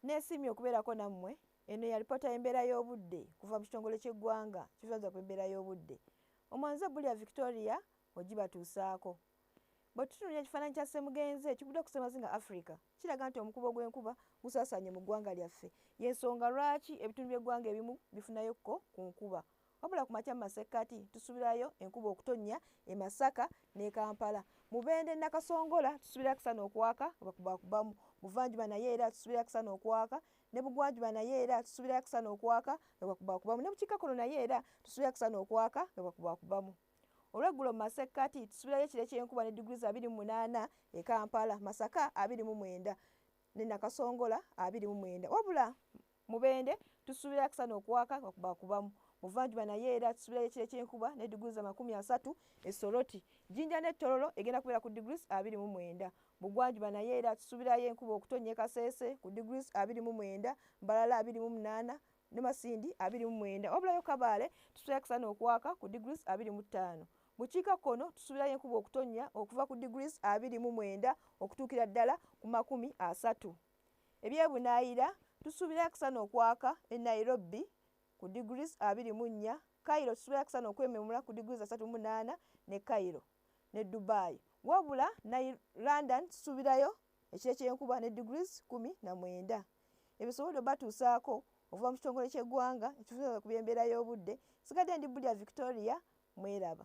Nesiimye okubeerako nammwe. Eno ya lipoota y'embeera y'obudde kuva mu kitongole ky'eggwanga ekivunanyizibwa ku embeera y'obudde. Omwanguzi ebbuli ya Victoria ogibatuusaako. Bwetutunuulira ekifaananyi kya Ssemugenzi ekiguddeko ku ssemazinga Africa kiraga nti omukuba ogw'enkuba gusaasaanye mu ggwanga lyaffe y'ensonga lwaki ebitundu by'eggwanga ebimu bifunayo ko ku nkuba Wabula ku makya mu masekkati tusubirayo enkuba okutonnya e Masaka ne Kampala. Mubende Nakasongola tusubira kisana okwaka bakubakubamu. Buvanjuba naye era tusubira kisana okwaka ne bugwanjuba naye era tusubira kisana okwaka nga bakubakubamu. Ne bukikkakkono naye era tusubira kisana okwaka nga bakubakubamu. Olweggulo mu masekkati tusubirayo ekire ky'enkuba ne diguli za abiri mu munaana e Kampala, Masaka abiri mu mwenda ne Nakasongola abiri mu mwenda. Wabula Mubende, Tusuubira akasana okwaka nga kubakubamu Buvanjuba naye era tusuubirayo ekire ky'enkuba ne diguli za makumi asatu e Soroti. Jinja ne Tororo egenda kubeera ku diguli abiri mu mwenda. Bugwanjuba naye era tusuubirayo enkuba okutonnya e Kasese ku diguli abiri mu mwenda, Mbarara abiri mu munaana ne Masindi abiri mu mwenda. Wabulayo Kabale tusuubirayo akasana okwaka ku diguli abiri mu ttaano. Bukiika kkono tusuubirayo enkuba okutonnya okuva ku diguli abiri mu mwenda okutuukira ddala ku makumi asatu. Ebyebunaayira, Tusuubira akasana okwaka e Nairobi ku degrees abiri mu nnya, Cairo tusuubira akasana okwememula ku degrees asatu mu munaana ne Cairo ne Dubai wabula Nai London tusuubirayo ekire ky'enkuba ne degrees kkumi na mwenda. Ebisobodde obatuusaako okuva mu kitongole ky'eggwanga ekivunaanyizibwa ku by'embeera y'obudde, nsigadde ndi Bulya Victoria, mweraba.